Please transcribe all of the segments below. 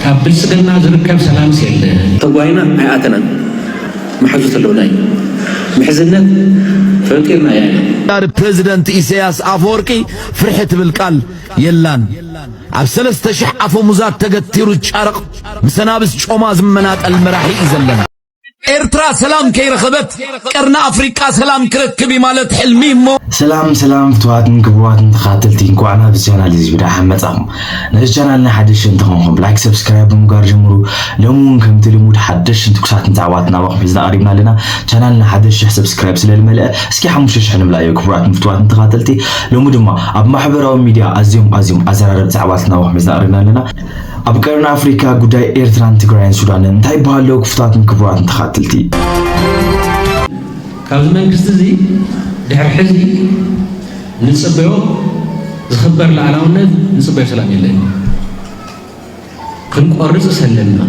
ካብ ብልፅግና ዝርከብ ሰላምስ የለን። ተጓይና ኣይኣተናን መሓዙት ኣለውና እዩ ምሕዝነት ፈጢርና ያለ። ዳር ፕረዚደንት ኢሰያስ ኣፈወርቂ ፍርሒ ትብል ቃል የላን ኣብ ሰለስተ ሽሕ ኣፈሙዛት ተገቲሩ ጫርቕ ምስ ኣናብስ ጮማ ዝመናጠል መራሒ እዩ ዘለና። ኤርትራ ሰላም ከይረኸበት ቀርኒ ኣፍሪቃ ሰላም ክረክብ እዩ ማለት ሕልሚ እሞ ሰላም ሰላም ፍትዋትን ክቡራትን ተኸታተልቲ እንኳዕ ናብ ቻናል እዚ ብደሓን መጻኹም ነዚ ቻናልና ሓድሽ እንተኾንኩም ላይክ ሰብስክራይብ ብምግባር ጀምሩ ሎሚ እውን ከምቲ ልሙድ ሓደሽን ትኩሳትን ዛዕባታት ናባኹም ሒዝና ቀሪብና ኣለና ቻናልና ሓደ ሽሕ ሰብስክራይብ ስለ ዝመልአ እስኪ ሓሙሽተ ሽሕ ንምላእዮ ክቡራትን ፍትዋትን ተኸታተልቲ ሎሚ ድማ ኣብ ማሕበራዊ ሚድያ ኣዝዮም ኣዝዮም ኣዘራረብቲ ዛዕባታት ናባኹም ሒዝና ቀሪብና ኣለና ኣብ ቀርኒ ኣፍሪካ ጉዳይ ኤርትራን ትግራይን ሱዳንን እንታይ ይበሃል ኣሎ ክፉታትን ክቡራትን ተኻትልቲ ካብዚ መንግስቲ እዚ ድሕሪ ሕዚ ንፅበዮ ዝኽበር ላዕላውነት ንፅበዮ ሰላም የለን። ክንቆርፅ ሰለና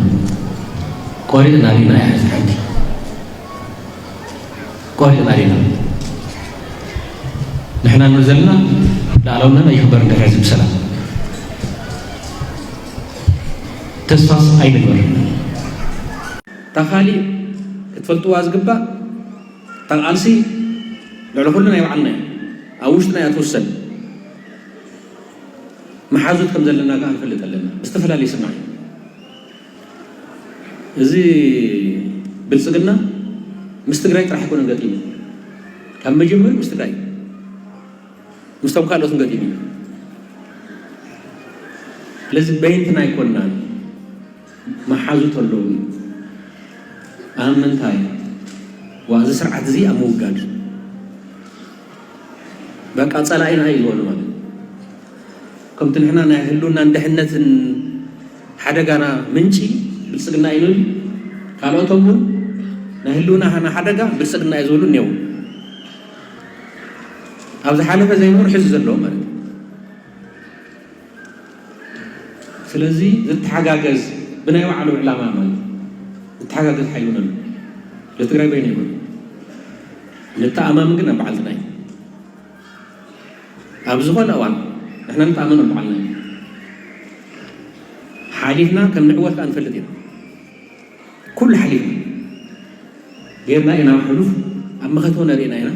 ቆሪፅና ዲና እያ ሕዚ ሓንቲ ቆልዑ ናይና ንሕና እንብል ዘለና ልኣላውነትና ይኽበር እንድሕር ህዝቢ ሰላም ተስፋስ ኣይንግበር። እታ ካሊእ ክትፈልጥዋ ዝግባእ እታ ቃልሲ ልዕሊ ኩሉ ናይ ባዕልና እዩ። ኣብ ውሽጥና እያ ትውሰን። መሓዙት ከም ዘለና ከዓ ንፈልጥ ኣለና ብዝተፈላለየ ስምዒት እዚ ብልፅግና ምስ ትግራይ ጥራሕ ኣይኮነን ገጢሙ ካብ መጀመሪ ምስ ትግራይ ምስቶም ካልኦትን ገጢሙ እዩ ስለዚ በይንትና ኣይኮናን መሓዙት ኣለዉ ኣብ ምንታይ ዋዚ ስርዓት እዚ ኣብ ምውጋድ በቃ ፀላኢና እዩ ዝበሉ ማለት ከምቲ ንሕና ናይ ህልውናን ድሕነትን ሓደጋና ምንጪ ብልጽግና እዩ ንብል ካልኦቶም ውን ናይ ህልውናና ሓደጋ ብልጽግና እዩ ዝብሉ እኔዉ ኣብ ዝሓለፈ ዘይነበሩ ሕዚ ዘለዉ ማለት እዩ ስለዚ ዝተሓጋገዝ ብናይ ባዕሉ ዕላማ ማለት ዝተሓጋገዝ ሓይሊ ውን ኣሎ ንትግራይ በይኑ ኣይኮነን ንተኣማምን ግን ኣብ ባዕልትና እዩ ኣብ ዝኾነ እዋን ንሕና ንተኣመኖም በዓልና ኢና ሓሊፍና ከም ንዕወት ከኣ ንፈልጥ ኢና ኩሉ ሓሊፍና ጌርና ኢና ሕሉፍ ኣብ መኸተ እውን ርኢና ኢና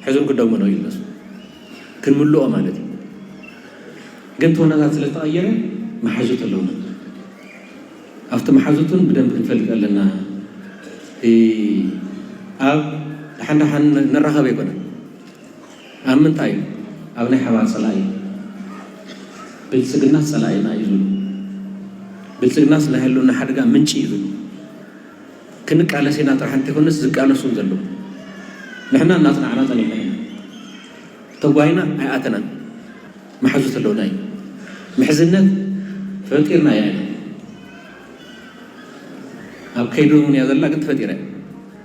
ሕዝም ክደግሞ ነው ይለሱ ክንምልኦ ማለት እዩ ግን ተወናታት ስለ ዝተቐየረ መሓዙት ኣለውና ኣብቲ መሓዙትን ብደንብ ክንፈልጥ ኣለና ኣብ ደሓን ደሓን ንራኸብ ኣይኮነን ኣብ ምንታይ? ኣብ ናይ ሓባር ጸላኢ። ብልጽግናስ ጸላኢና እዩ ዝብሉ። ብልጽግናስ ናይ ህልውና ሓደጋ ምንጪ እዩ ዝብሉ። ክንቃለስ ኢና ጥራሕ እንተይኮነስ ዝቃለሱ እውን ዘለዉ። ንሕና እናጽናዕና ጸኒሕና ኢና። ተጓይና ኣይኣተናን። መሓዙት ኣለዉና እዩ። ምሕዝነት ፈጢርናያ ኢና። ኣብ ከይዲ እውን እያ ዘላ ግን ተፈጢራ እያ።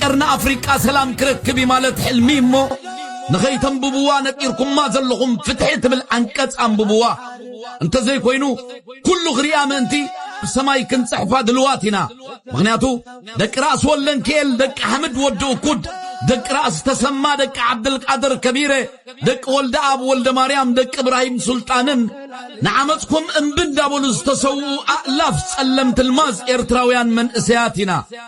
ቀርኒ ኣፍሪቃ ሰላም ክረክብ እዩ ማለት ሕልሚ እሞ ንኸይተንብብዋ ነጢርኩማ ዘለኹም ፍትሒ ትብል ዓንቀጽ ኣንብብዋ እንተዘይኮይኑ ኩሉ ክሪኣ ምእንቲ ብሰማይ ክንጽሕፋ ድልዋት ኢና ምኽንያቱ ደቂ ራእሲ ወለንክኤል ደቂ ሓምድ ወዲ እኩድ ደቂ ራእሲ ተሰማ ደቂ ዓብድልቃድር ከቢረ ደቂ ወልደ ኣብ ወልደ ማርያም ደቂ እብራሂም ሱልጣንን ንዓመፅኩም እምቢ እንዳበሉ ዝተሰውኡ ኣእላፍ ጸለምቲ ልማዝ ኤርትራውያን መንእሰያት ኢና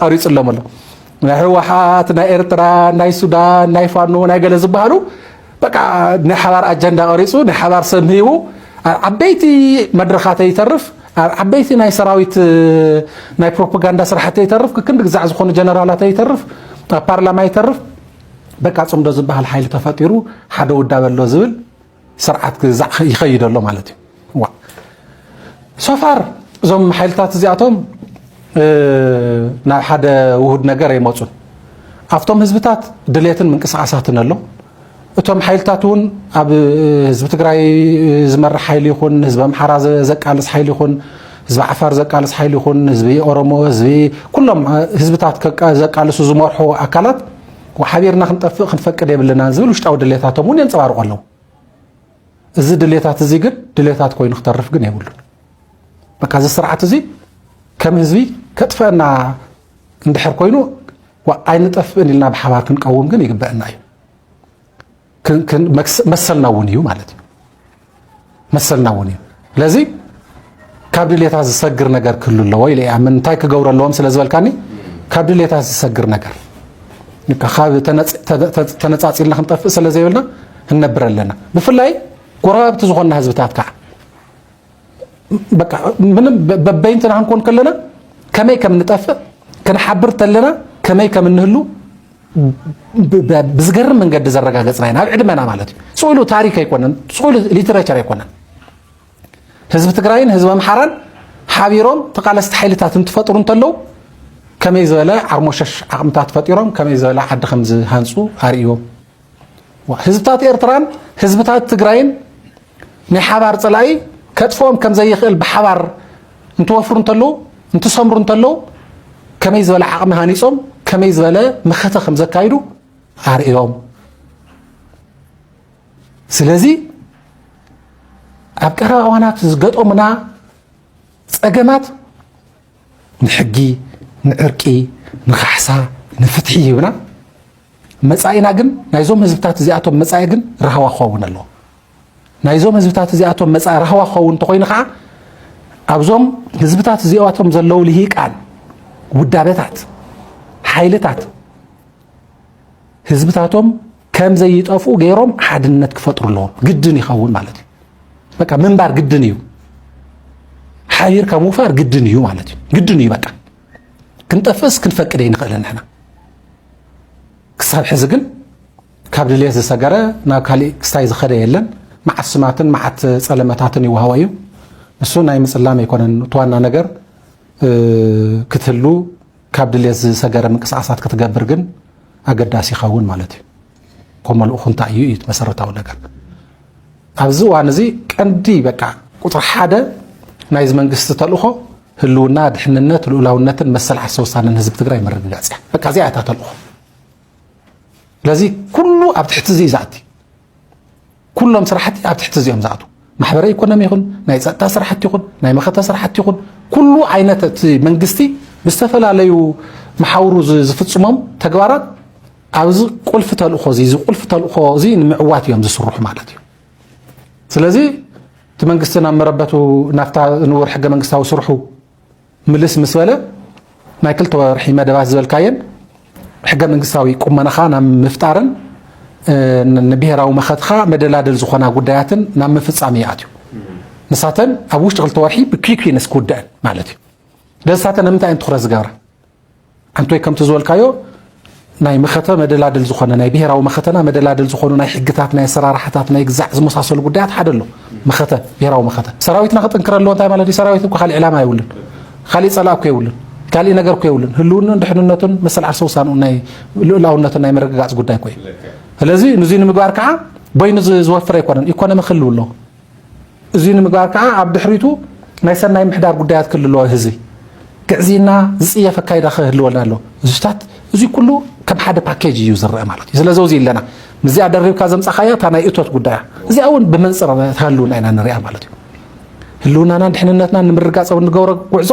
ቐሪፁሎም ኣሎ ናይ ህወሓት ናይ ኤርትራ ናይ ሱዳን ናይ ፋኖ ናይ ገለ ዝበሃሉ በቃ ናይ ሓባር ኣጀንዳ ቀሪፁ ናይ ሓባር ሰብ ሂቡ ኣብ ዓበይቲ መድረኻት ይተርፍ ኣብ ዓበይቲ ናይ ሰራዊት ናይ ፕሮፓጋንዳ ስራሕቲ ይተርፍ ክክንዲ ግዛዕ ዝኾኑ ጀነራላት ይተርፍ ኣብ ፓርላማ ይተርፍ በቃ ፅምዶ ዝበሃል ሓይሊ ተፈጢሩ ሓደ ውዳበ ኣሎ ዝብል ስርዓት ክዛዕ ይኸይድ ኣሎ ማለት እዩ ዋ ሶፋር እዞም ሓይልታት እዚኣቶም ናብ ሓደ ውሁድ ነገር ኣይመፁን ኣብቶም ህዝብታት ድሌትን ምንቅስቃሳትን ኣሎ እቶም ሓይልታት እውን ኣብ ህዝቢ ትግራይ ዝመርሕ ሓይሊ ይኹን ህዝቢ ኣምሓራ ዘቃልስ ሓይሊ ይኹን ህዝቢ ዓፋር ዘቃልስ ሓይሊ ይኹን ህዝቢ ኦሮሞ ህዝቢ ኩሎም ህዝብታት ዘቃልሱ ዝመርሑ ኣካላት ሓቢርና ክንጠፍእ ክንፈቅድ የብልናን ዝብል ውሽጣዊ ድሌታቶም እውን የንፀባርቁ ኣለዉ እዚ ድሌታት እዚ ግን ድሌታት ኮይኑ ክተርፍ ግን የብሉን በቃ እዚ ስርዓት እዚ ከም ህዝቢ ከጥፈአና እንድሕር ኮይኑ ኣይንጠፍእን ኢልና ብሓባር ክንቀውም ግን ይግበአና እዩ መሰልና እውን እዩ ማለት እዩ መሰልና እውን እዩ ስለዚ ካብ ድሌታት ዝሰግር ነገር ክህሉ ኣለዎ ኢለ ይኣምን እንታይ ክገብሩ ኣለዎም ስለ ዝበልካኒ ካብ ድሌታት ዝሰግር ነገር ካብ ተነፃፂልና ክንጠፍእ ስለ ዘይብልና እነብር ኣለና ብፍላይ ጎረባብቲ ዝኾንና ህዝብታት ከዓ በቃ ምንም በበይንትና ክንኮን ከለና ከመይ ከም ንጠፍእ ክንሓብር ተለና ከመይ ከም እንህሉ ብዝገርም መንገዲ ዘረጋገፅና ኢና ኣብ ዕድመና ማለት እዩ ፅሉ ታሪክ ኣይኮነን ፅሉ ሊትሬቸር ኣይኮነን ህዝቢ ትግራይን ህዝቢ ኣምሓራን ሓቢሮም ተቃለስቲ ሓይልታት እንትፈጥሩ እንተለዉ ከመይ ዝበለ ዓርሞሸሽ ዓቕምታት ፈጢሮም ከመይ ዝበለ ዓዲ ከም ዝሃንፁ ኣርእዮም ህዝብታት ኤርትራን ህዝብታት ትግራይን ናይ ሓባር ጸላኢ ከጥፍኦም ከም ዘይኽእል ብሓባር እንትወፍሩ እንተለዉ እንትሰምሩ እንተለዉ ከመይ ዝበለ ዓቕሚ ሃኒጾም ከመይ ዝበለ መኸተ ከም ዘካይዱ ኣርእዮም ስለዚ ኣብ ቀረባ እዋናት ዝገጠሙና ጸገማት ንሕጊ፣ ንዕርቂ፣ ንካሕሳ፣ ንፍትሒ ሂብና መጻኢና ግን ናይዞም ህዝብታት እዚኣቶም መጻኢ ግን ራህዋ ክኸውን ኣለዎ። ናይዞም ህዝብታት እዚኣቶም መጻኢ ራህዋ ክኸውን እንተኾይኑ ከዓ ኣብዞም ህዝብታት እዚኣቶም ዘለዉ ልሂቃን ውዳበታት ሓይልታት ህዝብታቶም ከም ዘይጠፍኡ ገይሮም ሓድነት ክፈጥሩ ኣለዎም ግድን ይኸውን ማለት እዩ በቃ ምንባር ግድን እዩ ሓቢርካ ምውፋር ግድን እዩ ማለት እዩ ግድን እዩ በቃ ክንጠፍእስ ክንፈቅድ ይንኽእል ንሕና ክሳብ ሕዚ ግን ካብ ድልየት ዝሰገረ ናብ ካሊእ ክስታይ ዝኸደ የለን መዓት ስማትን መዓት ፀለመታትን ይወሃቦ እዩ ንሱ ናይ ምፅላም ኣይኮነን እቲ ዋና ነገር ክትህሉ ካብ ድሌት ዝሰገረ ምንቅስቓሳት ክትገብር ግን ኣገዳሲ ይኸውን ማለት እዩ። ኮመል ኡኹንታ እዩ እዩ መሰረታዊ ነገር ኣብዚ እዋን እዚ ቀንዲ በቃ ቁፅሪ ሓደ ናይዚ መንግስቲ ተልእኾ ህልውና፣ ድሕንነት፣ ልኡላውነትን መሰል ዓርሰ ውሳነን ህዝቢ ትግራይ ምርግጋፅ እያ። በቃ እዚኣ እታ ተልእኾ። ስለዚ ኩሉ ኣብ ትሕቲ እዚ እዩ ዝኣቲ። ኩሎም ስራሕቲ ኣብ ትሕቲ እዚኦም ዝኣትዉ ማሕበረ ኢኮኖሚ ይኹን ናይ ፀጥታ ስራሕቲ ይኹን ናይ መኸተ ስራሕቲ ይኹን ኩሉ ዓይነት እቲ መንግስቲ ብዝተፈላለዩ መሓውሩ ዝፍፅሞም ተግባራት ኣብዚ ቁልፊ ተልእኾ እዚ እዚ ቁልፊ ተልእኾ እዚ ንምዕዋት እዮም ዝስርሑ ማለት እዩ ስለዚ እቲ መንግስቲ ናብ መረበቱ ናብታ ንቡር ሕገ መንግስታዊ ስርሑ ምልስ ምስ በለ ናይ ክልተ ወርሒ መደባት ዝበልካየን ሕገ መንግስታዊ ቁመናኻ ናብ ምፍጣርን ንብሄራዊ መኸትኻ መደላደል ዝኾና ጉዳያትን ናብ ምፍፃም እዩ ኣትዩ ንሳተን ኣብ ውሽጢ ክልተ ወርሒ ብኪኪነስ ክውደአን ማለት እዩ ስለዚ ሳተን ንምንታይ እየን ትኹረት ዝገብራ ኣንቶይ ከምቲ ዝበልካዮ ናይ መኸተ መደላድል ዝኾነ ናይ ብሔራዊ መኸተና መደላድል ዝኾኑ ናይ ሕግታት ናይ ኣሰራርሓታት ናይ ግዛዕ ዝመሳሰሉ ጉዳያት ሓደ ኣሎ መኸተ ብሔራዊ መኸተ ሰራዊትና ክጥንክረ ኣለዎ እንታይ ማለት እዩ ሰራዊት እኮ ካሊእ ዕላማ የብሉን ካሊእ ፀላእ እኮ የብሉን ካሊእ ነገር እኮ የብሉን ህልውኑን ድሕንነቱን መሰል ዓርሰ ውሳንኡ ናይ ልኡላውነቱን ናይ ምርግጋፅ ጉዳይ እኮ እዩ ስለዚ ንዙይ ንምግባር ከዓ በይኑ ዝወፍር ኣይኮነን ኢኮኖሚ ክህልው ኣለዎ እዙይ ንምግባር ከዓ ኣብ ድሕሪቱ ናይ ሰናይ ምሕዳር ጉዳያት ክልለዎ ህዝቢ ግዕዝይና ዝፅየፍ ኣካይዳ ክህልወልና ኣሎ እዙታት እዙይ ኩሉ ከም ሓደ ፓኬጅ እዩ ዝረአ ማለት እዩ ስለዚ ውዚ ኣለና ምስዚኣ ደሪብካ ዘምፃኻያ እታ ናይ እቶት ጉዳያ እዚኣ እውን ብመንፅር ህልውና ኢና ንሪኣ ማለት እዩ ህልውናናን ድሕንነትና ንምርጋፅ ኣብ እንገብሮ ጉዕዞ